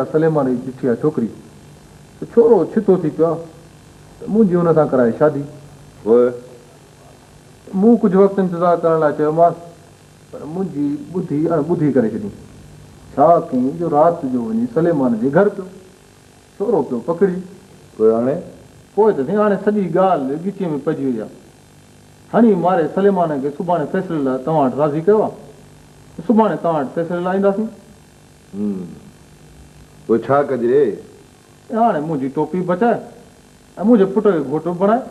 سليمان جي چٺي آ ڇوڪري سو ڇورو ڇتو ٿي پيو آ ته منهنجي ان سان ڪرائي شادي. پوء مون ڪجهه وقت انتظار ڪرڻ لاء چيومانس پر منهنجي ٻڌي اڻ ٻڌي ڪري ڇڏيائين. ڇا ڪيائين جو رات جو وڃي سليمان جي گهر پيو ڇورو پيو پڪڙي. پوء هاڻي؟ پوء ته سائين هاڻي سڄي ڳالهه ڳچيء ۾ پئجي وئي آ. هڻي ماري سليمان کي سڀاڻي فيصلي لاء توهان وٽ راضي ڪيو آ ته سڀاڻي توهان وٽ فيصلي لاء اينداسين. هون، پوء ڇا ڪجي؟ ته هاڻي منهنجي ٽوپي بچاء ۽ منهنجي پٽ کي گهوٽ به بڻاء.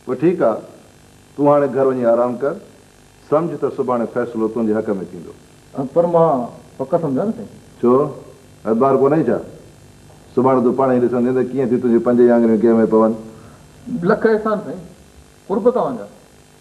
پوء ٺيڪ آ، تون هاڻي گهر وڃي آرام ڪر، سمجهه ته سڀاڻي فيصلو تنهنجي حق ۾ ٿيندو. پر مان پڪ سمجهان نه سائين. ڇو؟ اعتبار ڪونهي ڇا؟ سڀاڻي تون پاڻهي ئي ڏسندين ته ڪيئن ٿيون تنهنجيون پنج ئي آڱريون ڪنهن ۾ پون. لک احسان سائين، قرب توهان جا.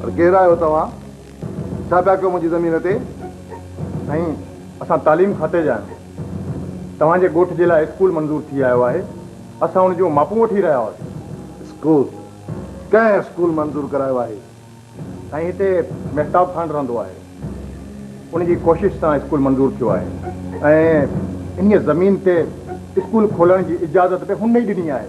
پر ڪير آهيو توهان؟ ڇا پيا ڪيو منهنجي زمين تي؟ سائين اسان تعليم کاتي جا آهيون. توهان جي ڳوٺ جي لاء اسڪول منظور ٿي آيو آهي. اسان ان جون ماپون وٺي رهيا هئاسين. اسڪول؟ ڪنهن اسڪول منظور ڪرايو آهي؟ سائين هتي مهتاب خان رهندو آهي. ان جي ڪوشش سان اسڪول منظور ٿيو آهي ۽ انهيء زمين تي اسڪول کولڻ جي اجازت به هن ئي ڏني آهي.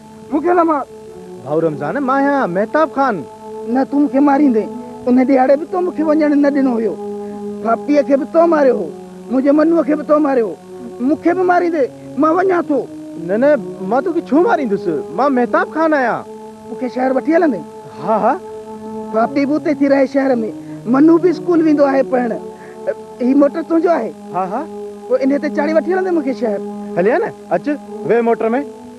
مون کي نه مار. ڀائو رمضان، مان آهيان مهتاب خان. نه، تون مون کي ماريندين. ان ڏيهاڙي به تو مون کي وڃڻ نه ڏنو هيو. ڦاپٽيء کي به تو ماريو هو. منهنجي منوء کي به تو ماريو هو. مون کي به ماريندين. مان وڃان ٿو. نه نه، مان توکي ڇو ماريندس. مان مهتاب خان آهيان. مون کي شهر وٺي هلندين؟ ها ها. ڦاپٽي به اتي ٿي رهي شهر ۾. منو به اسڪول ويندو آهي پڙهڻ. هي موٽر تنهنجو آهي؟ ها ها. پوء انهيء تي چاڙهي وٺي هلندين مون کي شهر. هليان نه. اچ، ويهه موٽر ۾.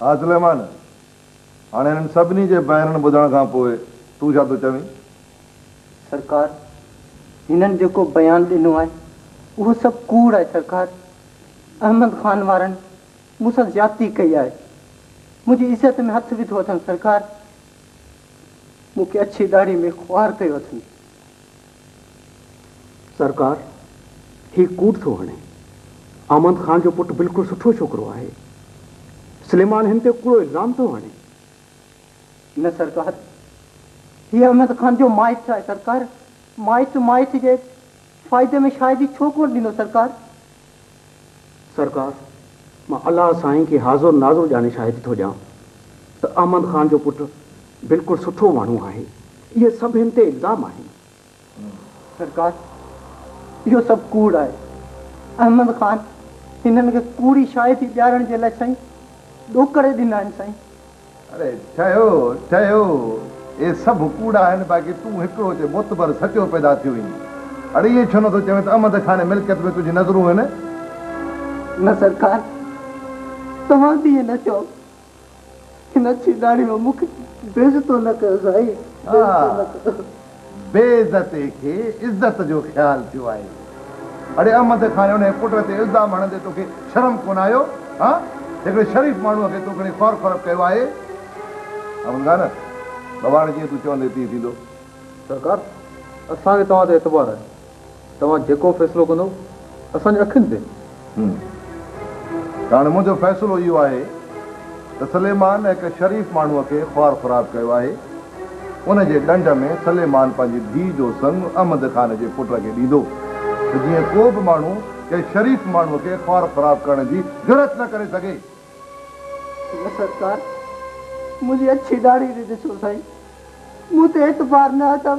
ها سليمان! هاڻي هنن سڀني جي بيانن ٻڌڻ کان پوء تون ڇا ٿو چوين؟ سرڪار! هنن جيڪو بيان ڏنو آهي، اهو سڀ ڪوڙ آهي سرڪار! احمد خان وارن مون سان زيادتي ڪئي آهي. منهنجي عزت ۾ هٿ وڌو اٿن سرڪار! مون کي اڇي ڏاڙهي ۾ خوار ڪيو اٿن. سرڪار هي ڪوڙ ٿو هڻي. احمد خان جو پٽ بلڪل سٺو ڇوڪرو آهي. سليمان هن تي ڪوڙو الزام ٿو هڻي. نه سرڪار هي احمد خان جو مائٽ آهي سرڪار. مائٽ مائٽ جي فائدي ۾ شايد هي ڇو ڪونه ڏنو سرڪار. سرڪار، مان الله سائين کي حاضر ناظر ڄاڻي شاهدي ٿو ڏيان ته احمد خان جو پٽ بلڪل سٺو ماڻهو آهي. اهي سڀ هن تي الزام آهن. سرڪار، اهو سڀ ڪوڙ آهي. احمد خان هنن کي ڪوڙي شاهدي ڏيارڻ جي لاء سائين ڏوڪڙي ڏنا آهن سائين. اڙي ٺهيو ٺهيو اهي سڀ ڪوڙ آهن باقي تون هڪڙو تي معتبر سچو پيدا ٿيو آهين اڙي ائين ڇو نٿو چوين ته احمد کان ملڪيت ۾ تنهنجي نظرون آهن. نه سرڪار توهان به ائين نه چئو هن اڇي ڏاڙهي ۾ مون کي بي عزتو نه ڪيو سائين بي عزتو نه ڪيو. بي عزتي کي عزت جو خيال ٿيو آهي. اڙي احمد کان ۽ انهيء پٽ تي الزام هڻندي توکي شرم ڪونه آيو؟ ها؟ هڪڙي شريف ماڻهوء کي تون کڻي خوار خراب ڪيو آهي. احمد خان! بابا هاڻي جيئن تون چوندين تيئن ٿيندو. سرڪار! اسان کي توهان تي اعتبار آهي. توهان جيڪو فيصلو ڪندو اسان جي اکين تي. هوم. ته هاڻي منهنجو فيصلو اهو آهي ته سليمان هڪ شريف ماڻهوء کي خوار خراب ڪيو آهي. ان جي ڏنڊ ۾ سليمان پنهنجي ڌيء جو سڱ احمد خان جي پٽ کي ڏيندو ته جيئن ڪو به ماڻهو ڪنهن شريف ماڻهوء کي خوار خراب ڪرڻ جي جرئت نه ڪري سگهي. نه سرڪار، منهنجي اڇي ڏاڙهي تي ڏسو سائين، مون تي اعتبار نه اٿم.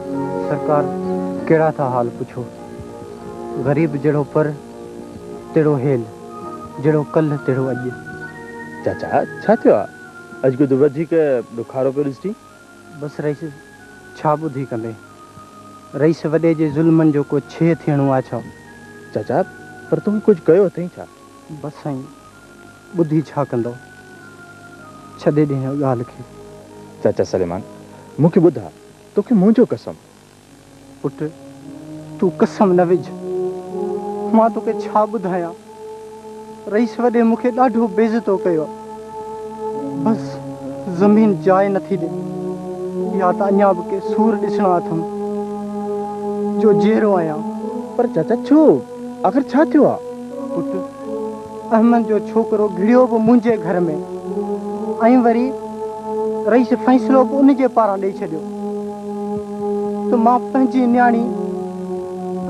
سرڪار ڪهڙا ٿا حال پڇو. غريب جهڙو پر تهڙو هيل، جهڙو ڪلهه تهڙو اڄ. چاچا ڇا ٿيو آ؟ اڄ ڪجهه وڌيڪ ڏکارو پيو ڏسجين. بس رئيس ڇا ٻڌي ڪندي. رئيس وڏي جي ظلمن جو ڪو ڇيهه ٿيڻو آ ڇا؟ چاچا پر توکي ڪجهه ڪيو اٿئي ڇا؟ بس سائين ٻڌي ڇا ڪندو. ڇڏي ڏي هن ڳالهه کي. چاچا سليمان مون کي ٻڌاء. توکي منهنجو قسم. پٽ! تون قسم نه وجهه. مان توکي ڇا ٻڌايان. رئيس وڏي مون کي ڏاڍو بيعزتو ڪيو. بس زمين جاء نه ٿي ڏي. يا ته اڃا به ڪي سور ڏسڻا اٿم جو جيئرو آهيان. پر چاچا ڇو؟ آخر ڇا ٿيو آهي؟ پٽ! احمد جو ڇوڪرو گهڙيو به منهنجي گهر ۾ ۽ وري رئيس فيصلو به ان جي پاران ڏئي ڇڏيو ته مان پنهنجي نياڻي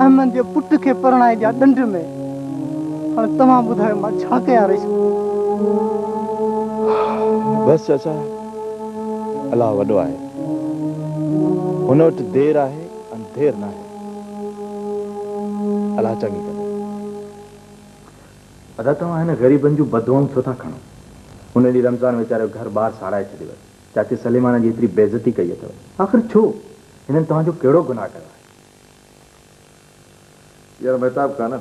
احمد جي پٽ کي پرڻائي ڏيان ڏنڊ ۾ هاڻي توهان ٻڌايو مان ڇا ڪيان رئيس بس چاچا الله وڏو آهي هن وٽ دير آهي انڌير ناهي الله چڱي ڪندي. ادا توهان هن غريبن جون بددعائون ڇو ٿا کڻو؟ ان ڏينهن رمضان ويچاري جو گهر ٻار ساڙائي ڇڏيو هيس. چاچي سليمانا جي ايتري بيعزتي ڪئي اٿو. آخر ڇو؟ هنن توهان جو ڪهڙو گناهه ڪيو آهي؟ يار مهتاب خان!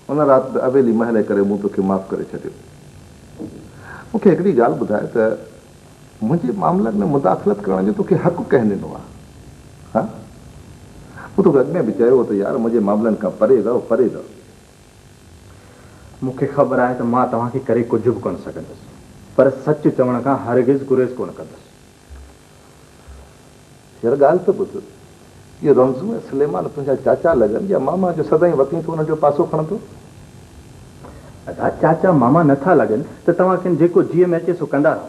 ان رات به اويلي مهلي ڪري مون توکي معاف ڪري ڇڏيو. مون کي هڪڙي ڳالهه ٻڌاء ته منهنجي معاملن ۾ مداخلت ڪرڻ جو توکي حق ڪنهن ڏنو آ؟ ها؟ مون توکي اڳ ۾ به چيو هو ته يار منهنجي معاملن کان پري رهه، پري رهه. مون کي خبر آهي ته مان توهان کي ڪري ڪجهه به ڪونه سگهندس، پر سچ چوڻ کان هرگز گريز ڪونه ڪندس. هينئر ڳالهه ته ٻڌ. اهي رمزون ۽ سليمان تنهنجا چاچا لڳن يا ماما جو سدائين وتين تون انهن جو پاسو کڻندو؟ ادا چاچا ماما نه ٿا لڳن ته توهان کين جيڪو جيء ۾ اچي سو ڪندا رهو.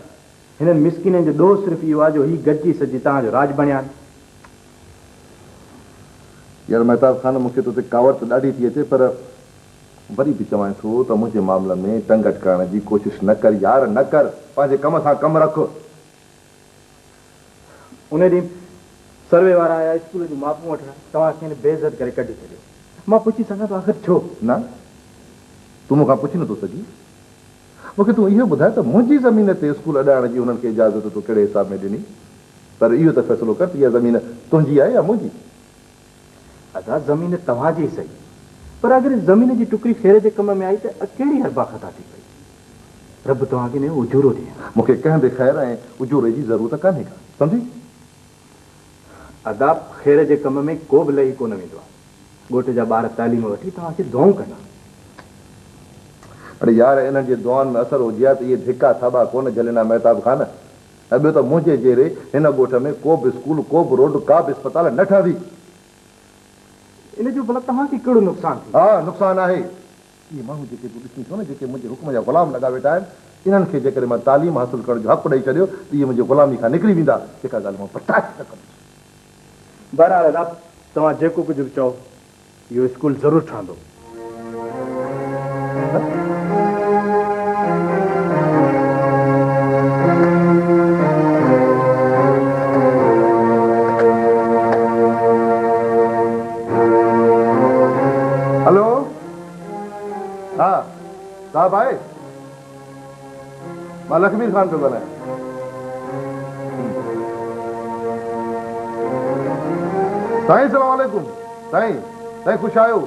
هنن مسڪينن جو ڏوهه صرف اهو آ جو هي گڏجي سڏجي توهان جو راڄ بڻيا آهن. يار مهتاب خان مون کي تو تي ڪاوڙ ته ڏاڍي ٿي اچي پر وري به چوانء ٿو ته منهنجي معاملن ۾ ٽنگ اٽڪائڻ جي ڪوشش نه ڪر يار نه ڪر. پنهنجي ڪم سان ڪم رک. ان ڏينهن سروي وارا آيا اسڪول جون ماپون وٺڻ، توهان کين بي عزت ڪري ڪڍي ڇڏيو. مان پڇي سگهان ٿو آخر ڇو؟ نه، تون مون کان پڇي نٿو سگهين. مون کي تون اهو ٻڌاء ته منهنجي زمين تي اسڪول اڏائڻ جي انهن کي اجازت تو ڪهڙي حساب ۾ ڏني؟ پر اهو ته فيصلو ڪر ته اها زمين تنهنجي آهي يا منهنجي؟ ادا زمين توهان جي سهي پر اگر ان زمين جي ٽڪري ڦيري جي ڪم ۾ آئي ته ڪهڙي هربا خطا ٿي پئي. رب توهان کي ان جو اجورو ڏي. مون کي ڪنهن به خير ۽ اجوري جي ضرورت ڪانهي ڪا. سمجهي. ادا خير جي ڪم ۾ ڪو به لهي ڪونه ويندو آهي. ڳوٺ جا ٻار تعليم وٺي توهان کي دعائون ڪندا. اڙي يار انهن جي دعائن ۾ اثر هجي ها ته اهي ڌڪا ٿاٻا ڪونه جهلين ها مهتاب خان. ۽ ٻيو ته منهنجي جيري هن ڳوٺ ۾ ڪوبه اسڪول، ڪوبه روڊ، ڪابه اسپتال نه ٺهندي. ان جو ڀلا توهان کي ڪهڙو نقصان ٿيندو؟ ها نقصان آهي. اهي ماڻهو جيڪي تون ڏسين ٿو نه، جيڪي منهنجي حڪم جا غلام لڳا ويٺا آهن، انهن کي جيڪڏهن مان تعليم حاصل ڪرڻ جو حق ڏئي ڇڏيو ته اهي منهنجي غلامي کان نڪري ويندا، جيڪا ڳالهه مان برداشت نه ڪندس. بهرحال رب توهان جيڪو ڪجهه به چئو. اهو اسڪول ضرور ٺهندو. هلو ها صاحب آهي. مان لکبير خان پيو ڳالهايان. سائين سلام عليڪم سائين سائين خوش آهيو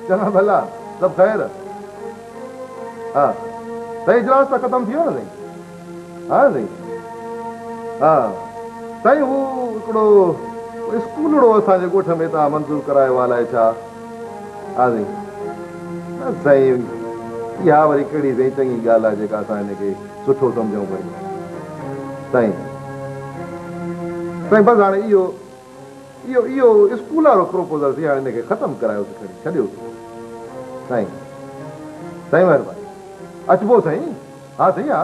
چڱا ڀلا سڀ خير ها سائين اجلاس ته ختم ٿي ويو نه سائين ها سائين ها سائين هو هڪڙو اسڪولڙو اسان جي ڳوٺ ۾ تان منظور ڪرايو آهه الائي ڇا آزين، نه سائين، اها وري ڪهڙي سائين چڱي ڳالهه آهي جيڪا اسان هن کي سٺو سمجهون پيون. سائين، سائين بس هاڻي اهو، اهو، اهو اسڪول وارو پروپوزل سي هاڻي هن کي ختم ڪرايوس کڻي، ڇڏيوس. سائين، سائين مهرباني، اچبو سائين، ها سائين ها.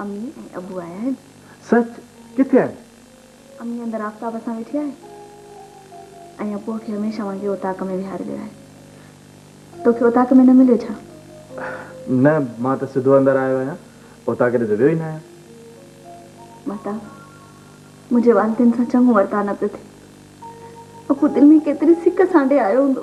امي ۽ ابو آيا آهن. سچ؟ ڪٿي آهن؟ امي اندر آفتاب سان ويٺي آهي ۽ ابوء کي هميشه وانگي اوطاق ۾ ويهاري ويو آهي. توکي اوطاق ۾ نه مليو ڇا؟ نه، مان ته سڌو اندر آيو آهيان. اوطاق ڏي ته ويو ئي نه آهيان. مهتاب، منهنجي والدين سان چڱو ورتاء نه پيو ٿئي. ابو دل ۾ ڪيتري سڪ سانڍي آيو هوندو.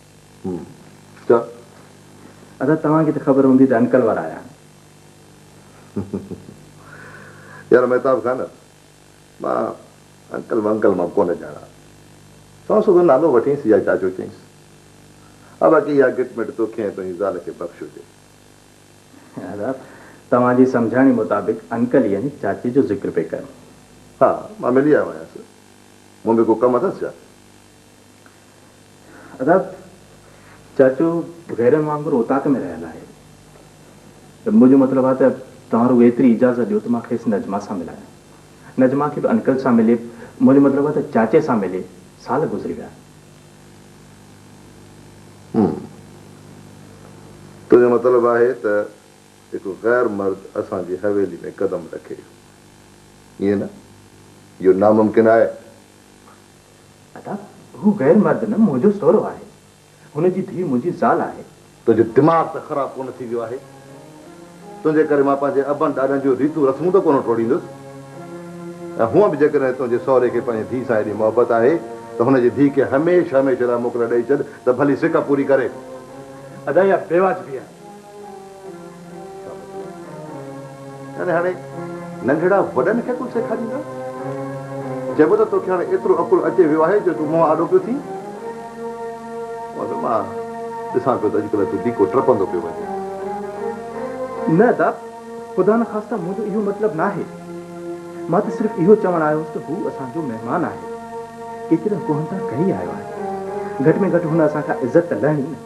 هوم. چؤ. ادا توهان کي ته خبر هوندي ته انڪل وارا آيا آهن. يار مهتاب خان مان انڪل ونڪل مان ڪونه ڄاڻان سو سڌو نالو وٺينس يا چاچو چئينس ها باقي اها گٽ مٽ توکي ۽ تنهنجي زال کي بخش هجي. ادا توهان جي سمجهاڻي مطابق انڪل يعني چاچي جو ذڪر پئي ڪن. ها مان ملي آيو آهيانس مون ۾ ڪو ڪم اٿس ڇا؟ ادا چاچو غيرن وانگر اوطاق ۾ رهيل آهي ته منهنجو مطلب آهي ته توهان رڳو ايتري اجازت ڏيو ته مان کيس نجمه سان ملايان. نجمه کي به انڪل سان ملي منهنجو مطلب آهي ته چاچي سان ملي سال گذري ويا. هم تنهنجو مطلب آهي ته هڪ غير مرد اسان جي حويلي ۾ قدم رکي ائين نه؟ اهو ناممڪن آهي. ادا هو غير مرد نه منهنجو سهرو آهي هن جي ڌي منهنجي زال آهي. تنهنجو دماغ ته خراب ڪونه ٿي ويو آهي تنهنجي ڪري مان پنهنجي ابن ڏاڏن جون ريتون رسمون ته ڪونه ٽوڙيندس ۽ هونئن به جيڪڏهن تنهنجي سهري کي پنهنجي ڌي سان ايڏي محبت آهي ته هن جي ڌي کي هميشه هميشه لاء موڪل ڏئي ڇڏ ته ڀلي سڪ پوري ڪري. ادا اها بيواجبي آهي يعني هاڻي ننڍڙا وڏن کي عقل سيکاريندا؟ چئبو ته توکي هاڻي ايترو عقل اچي ويو آهي جو تون مون آڏو پيو ٿين؟ مون مان ڏسان پيو ته اڄڪلهه تون ڊيڪو ٽپندو پيو وڃين. نه داپ، خدا نخواسته منهنجو اهو مطلب ناهي. مان ته صرف اهو چوڻ آيو هوس ته هو اسان جو مهمان آهي. ڪيترين ڪوهن تان ڪهي آيو آهي. گهٽ ۾ گهٽ هن اسان کان عزت ته لهڻي نه.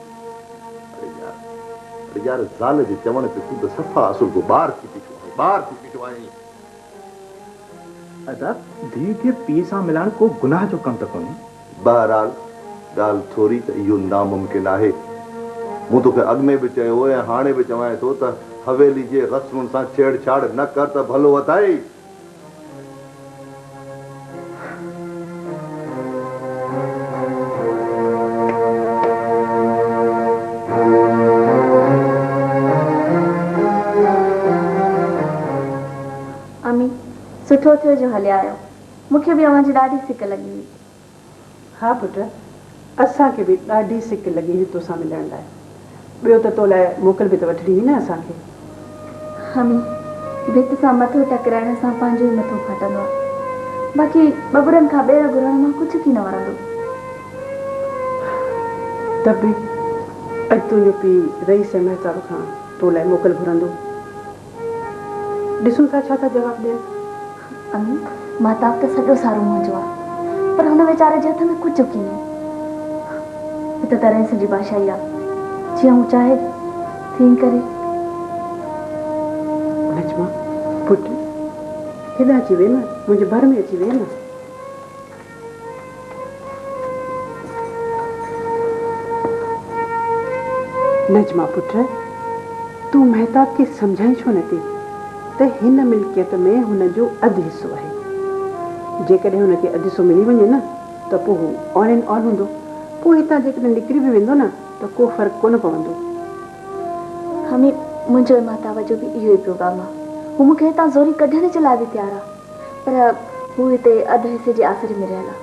اڙي يار! اڙي يار! زال جي چوڻ تي تون ته صفا اسرگو ٻار ٿي بيٺو آهين، ٻار ٿي بيٺو آهين. ادا، ڌيء کي پيء سان ملائڻ ڪو گناهه جو ڪم ته ڪونهي. بهرحال، ڳالهه ٿوري ته اهو ناممڪن آهي. مون توکي اڳ ۾ به چيو هو ۽ هاڻي به چوانء ٿو ته حويلي جي غصنن سان ڇيڙ ڇاڙ نه ڪر ته ڀلو اٿئي. امي، سٺو ٿيو جو هليا آيو. مون کي به اوهان جي ڏاڍي سڪ لڳي هئي. ها پٽ، اسان کي به ڏاڍي سڪ لڳي هئي توسان ملڻ لاء، ٻيو ته تو لاء موڪل به ته وٺڻي هئي نه اسان کي. همي، ڀت سان مٿو ٽڪرائڻ سان پنهنجو ئي مٿو ڦاٽندو آهي، باقي ٻٻرن کان ٻير گهرڻ مان ڪجهه ڪي نه ورندو. ته به اڄ تنهنجو پيء رئيس ۽ مهتاب کان تو لاء موڪل گهرندو. ڏسون ٿا ڇا ٿا جواب ڏين. امي، ماهتاب ته سڄو سارو منهنجو آ، پر هن ويچاري جي هٿ ۾ ڪجهه ڪينهي. هي ته ترينس جي بادشاهي آ، جيئن هو چاهي تيئن ڪري. نجمه، پٽ، هيڏانهن اچي ويهه نه، منهنجي ڀر ۾ اچي ويهه نه. نجمه پٽ! تون مهتاب کي سمجهائين ڇو نه ٿي ته هن ملڪيت ۾ هن جو اڌ حصو آهي. جيڪڏهن هن کي اڌ حصو ملي وڃي نه ته پوء هو آل اينڊ آل هوندو. پوء هتان جيڪڏهن نڪري به ويندو نه ته ڪو فرق ڪونه پوندو. همي، منهنجو ۽ مهتاب جو به اهو ئي پروگرام آهي. هو مون کي هتان زوري ڪڍڻ جي لاء به تيار آهي. پر هو هتي اڌ حصي جي آسري ۾ رهيل آ.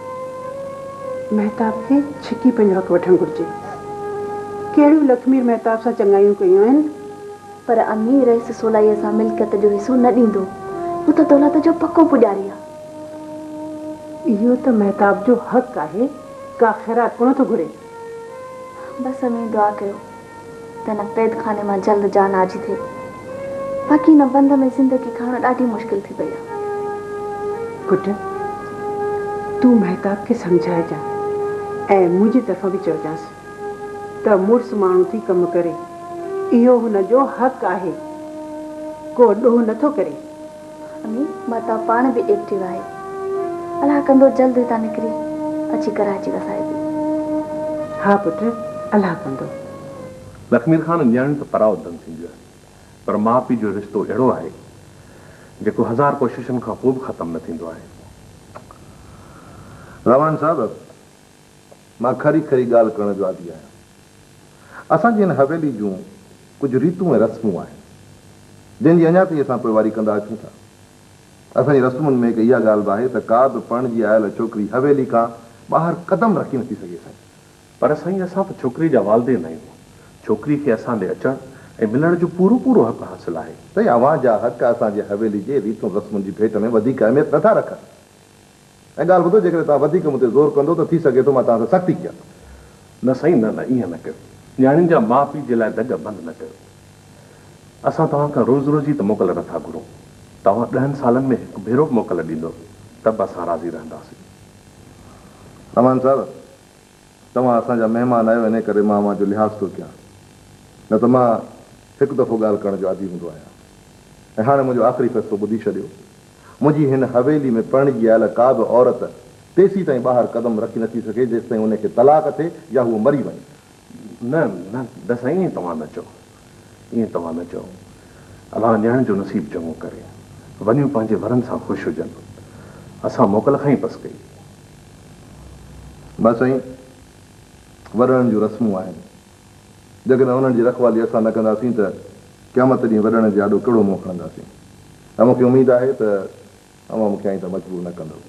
مهتاب کي ڇڪي پنهنجو حق وٺڻ گهرجي. ڪهڙيون لکمير مهتاب سان چڱايون ڪيون آهن. پر امي رئيس سولائيء سان ملڪيت جو حصو نه ڏيندو. هو ته دولت جو پڪو پوڄاري آ. اهو ته مهتاب جو حق آهي. ڪا خيرات ڪونه ٿو گهري. بس امي دعا ڪيو. ته هن قيدخاني مان جلد جان آجي ٿئي، باقي هن بند ۾ زندگي کائڻ ڏاڍي مشڪل ٿي پئي آهي. پٽ، تون مهتاب کي سمجهائجان ۽ منهنجي طرفان به چئجانس ته مڙس ماڻهو ٿي ڪم ڪري، اهو هن جو حق آهي، ڪو ڏوهه نه ٿو ڪري. امي مھتاب پاڻ به ايڪٽو آھي الاھ ڪندو جلد ھتان نڪري اچي ڪراچي وسائبي. ھا پٽ الاھ ڪندو. لکمير خان نياڻيون ته پرا اڏندن ٿينديون آھن پر ماء پيء جو رشتو اھڙو آھي جيڪو ھزار ڪوششن کان پوء به ختم نه ٿيندو آھي. رحمان صاحب مان کري کري ڳالهه ڪرڻ جو عادي آهيان. اسان جي هن حويلي جون ڪجهه ريتون ۽ رسمون آهن، جن جي اڃا تائين اسان پوئواري ڪندا اچون ٿا. اسان جي رسمن ۾ هڪ اها ڳالهه به آهي ته ڪا به پرڻجي آيل ڇوڪري حويلي کان ٻاهر قدم رکي نٿي سگهي سائين. پر سائين اسان ته ڇوڪري جا والدين آهيون، ڇوڪري کي اسان ڏي اچڻ ۽ ملڻ جو پورو پورو حق حاصل آهي. سائين اوهان جا حق اسان جي حويلي جي ريتن رسمن جي ڀيٽ ۾ وڌيڪ اهميت نٿا رکن. ۽ ڳالهه ٻڌو جيڪڏهن توهان وڌيڪ مون تي زور ڪندو ته ٿي سگهي ٿو مان توهان سان سختي ڪيان. نه سائين نه نه ائين نه ڪيو نياڻين جا ماء پيء جي لاء دڳ بند نه ڪيو اسان توهان کان روز روز جي ته موڪل نٿا گهرون توهان ڏهن سالن ۾ هڪ ڀيرو به موڪل ڏيندو ته به اسان راضي رهنداسين. امان صاحب توهان اسان جا مهمان آهيو انهي ڪري مان اوهان جو لحاظ ٿو ڪيان نه ته مان هڪ دفعو ڳالهه ڪرڻ جو عادي هوندو آهيان ۽ هاڻي منهنجو آخري فيصلو ٻڌي ڇڏيو منهنجي هن حويلي ۾ پرڻجي آيل ڪا به عورت تيسين تائين ٻاهر قدم رکي نٿي سگهي جيستائين ان کي طلاق ٿئي يا هوء مري وڃي. نه نه نه سائين ائين توهان نه چئو ائين توهان نه چئو الله نياڻين جو نصيب چڱو ڪري وڃيون پنهنجي ورن سان خوش هجن اسان موڪل کان ئي پس ڪئي هئي. نه سائين ورڻن جون رسمون آهن. جيڪڏهن انهن جي رکوالي اسان نه ڪنداسين ته قيامت ڏينهن وڏڙن جي آڏو ڪهڙو منهن کڻنداسين؟ ۽ مون کي اميد آهي ته اوهان مون کي آئنده مجبور نه ڪندؤ.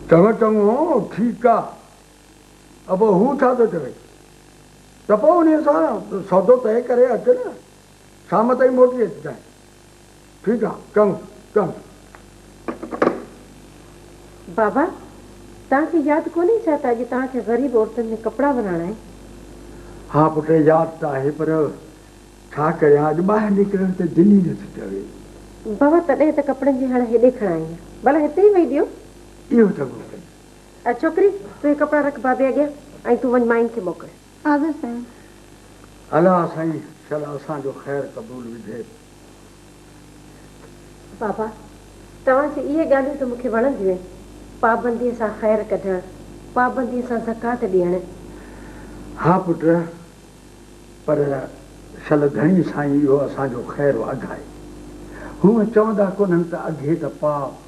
توهان چڱو، ٺيڪ آ، ته پوء هو ڇا ٿو چوي؟ ته پوء انهيء سان سودو طئي ڪري اچ نه، شام تائين موٽي اچجانء. ٺيڪ آ. ڪم ڪم. بابا، توهان کي ياد ڪونهي ڇا ته اڄ توهان کي غريب عورتن ۾ ڪپڙا ورهائڻا آهن؟ ها پٽ، ياد ته آهي پر ڇا ڪريان اڄ ٻاهر نڪرڻ ته دل ئي نٿي چوي. بابا، تڏهن ته ڪپڙن جي هڻ هيڏي کڻ آئين آهيان. ڀلا هتي ئي ويهي ڏيو. اهو ته ممڪن. ڇوڪري، تون هي ڪپڙا رک بابي اڳيان ۽ تون وڃ مائين کي موڪل. حافظ سائين. الا سائين شل اسان جو خير قبول وجهي. بابا توهان جي اهي ڳالهيون ته مون کي وڻنديون آهن پابندي سان خير ڪڍڻ پابندي سان زڪوات ڏيڻ. ها پٽ پر شل ڌڻي سائين اهو اسان جو خير واڌائي هونء چوندا ڪونهن ته اگهي ته پاء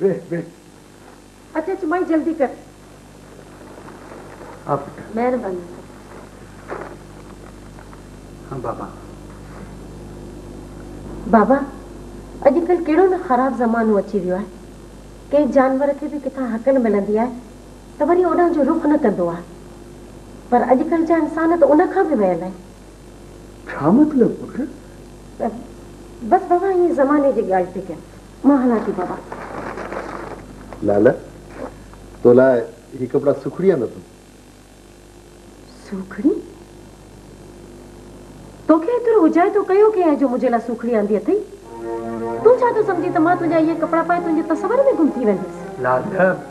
ويهه ويهه. اچ اچ مائي جلدي ڪر. آ پٽ. مهرباني. ها بابا. بابا اڄ ڪلهه ڪهڙو نه خراب زمانو اچي ويو آهي. ڪنهن جانور کي به ڪٿان هڪل ملندي آهي ته وري اوڏانهن جو رخ نه ڪندو آهي. پر اڄ ڪلهه جا انسان ته ان کان به ويل آهن. ڇا مطلب پٽ؟ بس بابا ائين زماني جي ڳالهه پئي ڪيان. مان هلان ٿي بابا. لالا تو لاء هي ڪپڙا سوکڙي آندو اٿم. سوکڙي؟ توکي ايترو اجايتو ڪيو ڪنهن آهي جو منهنجي لاء سوکڙي آندي اٿئي؟ تون ڇا ٿو سمجهين ته مان تنهنجا اهي ڪپڙا پائي تنهنجي تصور ۾ گم ٿي ويندس؟ لالا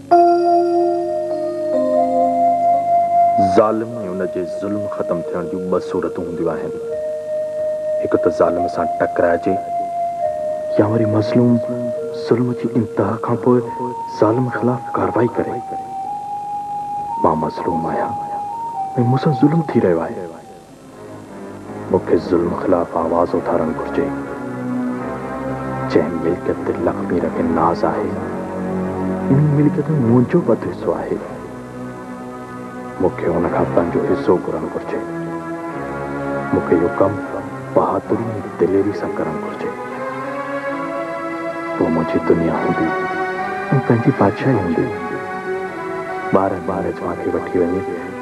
ظالم ۽ ان جي ظلم ختم ٿيڻ جون ٻه صورتون هونديون آهن. هڪ ته ظالم سان ٽڪرائجي يا وري مظلوم ظلم جي انتها کان پوء ظالم خلاف ڪارروائي ڪري. مان مظلوم آهيان ۽ مون سان ظلم ٿي رهيو آهي. مون کي ظلم خلاف آواز اٿارڻ گهرجي. جنهن ملڪيت تي لکمير کي ناز آهي، انهي ملڪيت ۾ منهنجو به اڌ حصو آهي. مون کي ان کان پنهنجو حصو گهرڻ گهرجي. مون کي اهو ڪم بهادري ۽ دليري سان ڪرڻ گهرجي. پوء منهنجي دنيا هوندي ۽ پنهنجي بادشاهي هوندي. ٻارهن ٻارهن جهان کي وٺي وڃي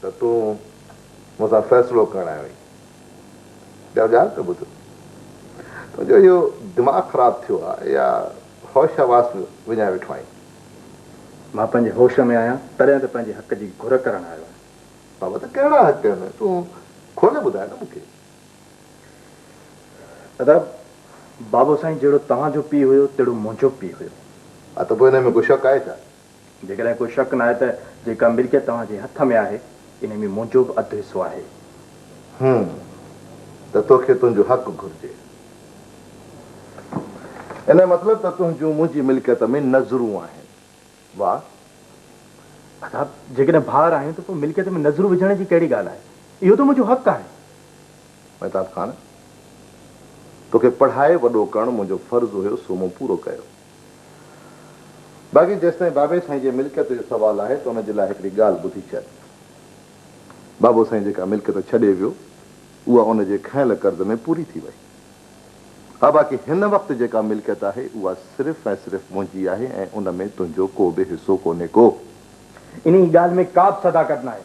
ته تون مون سان فيصلو ڪرڻ آيو آهين. ٻيا ڳالهه ته ٻڌ. تنهنجو اهو دماغ خراب ٿيو آهي يا هوش حواس وڃائي ويٺو آهين؟ مان پنهنجي هوش ۾ آهيان، تڏهن ته پنهنجي حق جي گهر ڪرڻ آيو آهيان. بابا ته ڪهڙا حق آهن؟ تون کولي ٻڌاء نه مون کي. ادا، بابو سائين جهڙو توهان جو پيء هيو، تهڙو منهنجو پيء هيو. ها ته پوء انهيء ۾ ڪو شڪ آهي ڇا؟ جيڪڏهن ڪو شڪ ناهي ته جيڪا ملڪيت توهان جي هٿ ۾ آهي، انهي ۾ منهنجو به اڌ حصو آهي. هون، ته توکي تنهنجو حق گهرجي. انهي مطلب ته تنهنجون منهنجي ملڪيت ۾ نظرون آهن. واهه! ادا، جيڪڏهن ڀائر آهيون ته پوء ملڪيت ۾ نظرون وجهڻ جي ڪهڙي ڳالهه آهي؟ اهو ته منهنجو حق آهي. مهتاب خان، توکي پڙهائي وڏو ڪرڻ منهنجو فرض هيو، سو مون پورو ڪيو. باقي جيستائين بابي سائين جي ملڪيت جو سوال آهي ته ان جي لاء هڪڙي ڳالهه ٻڌي ڇڏ. بابو سائين جيڪا ملڪيت ڇڏي ويو اها ان جي کنيل قرض ۾ پوري ٿي وئي. ها باقي هن وقت جيڪا ملڪيت آهي اها صرف ۽ صرف منهنجي آهي ۽ ان ۾ تنهنجو ڪو به حصو ڪونهي ڪو. انهيء ڳالهه ۾ ڪابه صداقت ناهي.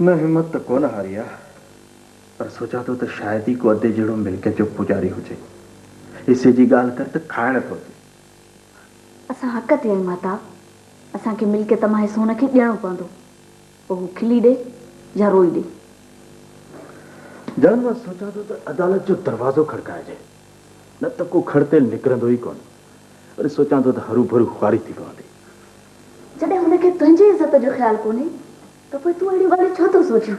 نه همت ته ڪونه هاري آ، پر سوچان ٿو ته شايد ئي ڪو ادي جهڙو ملڪيت جو پوڄاري هجي. حصي جي ڳالهه ڪر ته کائڻ ٿو اچي. اسان حق تي آهيون ماهتاب، اسان کي ملڪيت مان حصو هن کي ڏيڻو پوندو، پوء هو کلي ڏي يا روئي ڏي. جان مان سوچان ٿو ته عدالت جو دروازو کڙڪائجي، نه ته ڪو کڙ تيل نڪرندو ئي ڪونه. وري سوچان ٿو ته هروڀرو خواري ٿي پوندي. جڏهن هن کي تنهنجي عزت جو خيال ڪونهي ته پوء تون اهڙيون ڳالهيون ڇو ٿو سوچين؟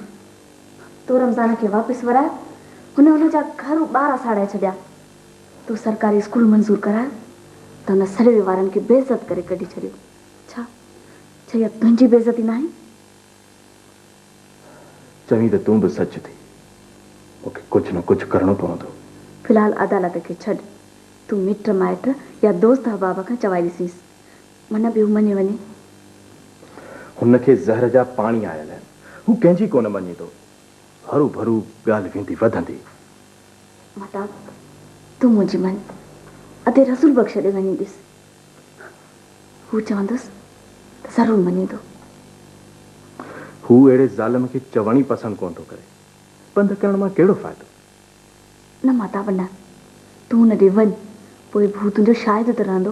تو رمضان کي واپس ورايو، هن ان جا گهر و ٻار اساڙائي ڇڏيا. تو سرڪاري اسڪول منظور ڪرايو ته هن سروي وارن کي بي عزت ڪري ڪڍي ڇڏيو. ڇا ڇا اها تنهنجي بي عزتي ناهي؟ چوين ته تون به سچ ٿي. مون کي ڪجهه نه ڪجهه ڪرڻو پوندو. في الحال عدالت کي ڇڏ. تون مٽ مائٽ يا دوست احباب کان چوائي ڏسينس. من به مڃي وڃي. هن کي زهر جا پاڻي آيل آهن. هو ڪنهن جي ڪونه مڃيندو. هروڀرو ڳالهه ويندي وڌندي. مهتاب، تون منهنجي مڃ. ادي رسول بخش ڏي وڃي ڏس. هو چوندس ته ضرور مڃيندو. هو اهڙي ظالم کي چوڻ ئي پسند ڪونه ٿو ڪري. پنڌ ڪرڻ مان ڪهڙو فائدو. نه مهتاب نه. تون هن ڏي وڃ. پوء به هو تنهنجو شاهد ته رهندو.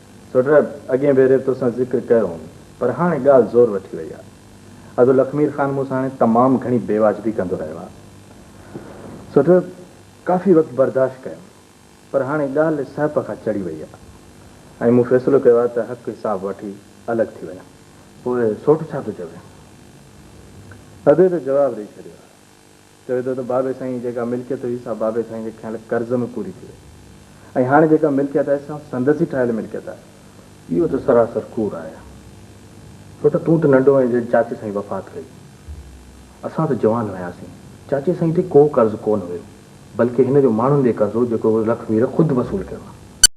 سهراب، اڳئين ڀيري توسان ذڪر ڪيو هوم، پر هاڻي ڳالهه زور وٺي وئي آ. ادو لکمير خان مون سان هاڻي تمام گهڻي بي واجبي ڪندو رهيو آ. سهراب، ڪافي وقت برداشت ڪيم، پر هاڻي ڳالهه سهپ کان چڙهي وئي آ ۽ مون فيصلو ڪيو آ ته حق حساب وٺي الڳ ٿي وڃان. پوء سوٽ ڇا ٿو چوي؟ ادي ته جواب ڏئي ڇڏيو آ. چوي ٿو ته بابي سائين جي جيڪا ملڪيت هئي سا بابي سائين جي کنيل قرض ۾ پوري ٿي وئي ۽ هاڻي جيڪا ملڪيت آهي سا سندس ئي ٺاهيل ملڪيت آهي. اهو ته سراسر ڪوڙ آهي. ڇو ته تون ته ننڍو هئين جڏهن چاچي سائين وفات ڪئي. اسان ته جوان هياسين. چاچي سائين تي ڪو قرض ڪونه هيو بلڪه هن جو ماڻهن ڏي قرض هو جيڪو هن لکمير خود وصول ڪيو آهي.